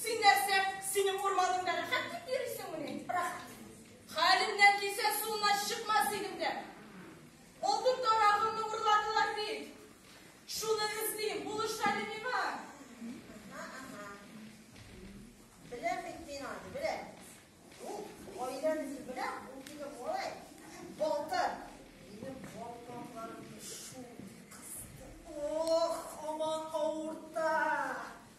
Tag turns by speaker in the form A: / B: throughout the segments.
A: Син нәрсә, синең урманыңда рәхәт дип йөрисеңмени? Рәхәт. Хәлемнән килсә, суына чыкмас идем дә. Алтын тарагымны урладылар бит. Шуны эзлим, булыш әле миңа. Ага, ага. Беләм бит мин аны, беләм. Ул гаиләмезне беләм, ул минем малай. Балтыр. Минем балкакларымны шул кысты. Ох, һаман авырта.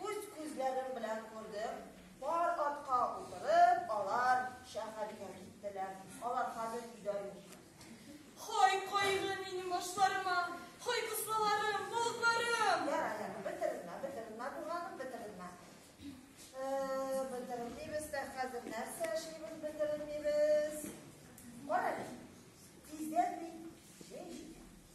A: Үз күзләрем белән күрдем, пар атка утырып, алар шәһәргә киттеләр. Алар хәзер өйдә юк. Хай кайгы минем башларыма, хай кысаларым, болытларым! Ярар, ярар, бетердем мә, бетердем мә, туганым, бетердем мә. Э, Бетермибез дә хәзер нәрсә эшлибез, бетермибез. Кара әле, тиздән мин җәй җитә.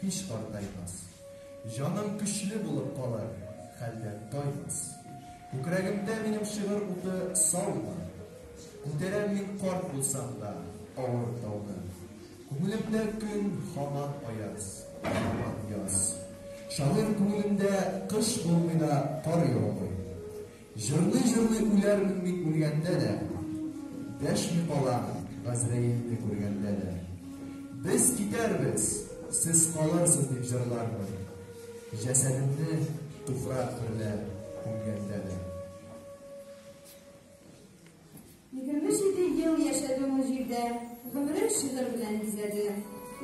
A: һич картаймас. Җаным көчле булып калыр, хәлдән таймас. Күкрәгемдә минем шигырь уты саулар. Күтәрәм мин карт булсам да авыр тауны. Күңелемдә көн һаман аяз, һаман яз. Шагыйрь күңелендә кыш булмый да кар яумый. Җырлый-җырлый үләрмен мин үлгәндә дә, Дәшми калам Газраилне күргәндә дә. Без китәрбез, сез калырсыз дип җырлармын, Җәсәдемне туфрак берлә күмгәндә дә. Егерме җиде ел яшәде ул җирдә, Гомерен шигырь белән бизәде.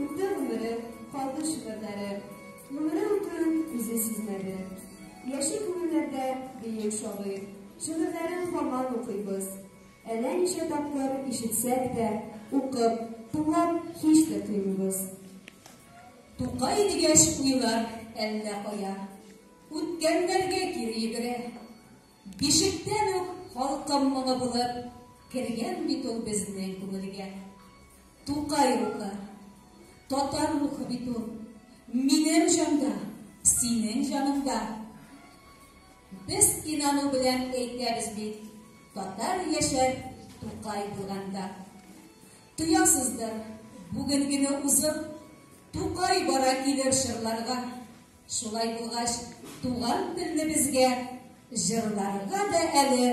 A: Үтте гомере, калды шигырьләре, Гомере үтүен үзе сизмәде. Яши күңелләрдә бөек шагыйрь, Шигырьләрен һаман укыйбыз. Әллә ничә тапкыр ишетсәк тә, Укып, тыңлап һич тә туймыйбыз. Тукай дигәч, уйлар әллә кая, Үткәннәргә кире йөгерә. Бишектән үк халкым моңы булып кергән бит ул безнең күңелгә. Тукай рухы, татар рухы бит ул. Минем җанда, синең җаныңда. Без инану белән әйтәбез бит, татар яшәр Тукай булганда. Тоясыздыр, бүгенгене узып, Тукай бара килер чорларга. Шулай булгач, туган телне безгә җырларга да әле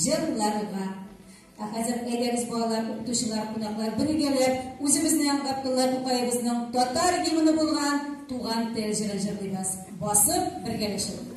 A: җырларга. Ә хәзер әйдәгез балалар, укытучылар, кунаклар бергәләп үзебезнең Габдулла Тукаебызның татар гимны булган Туган тел җырын җырлыйбыз. Басып бергәләшеп.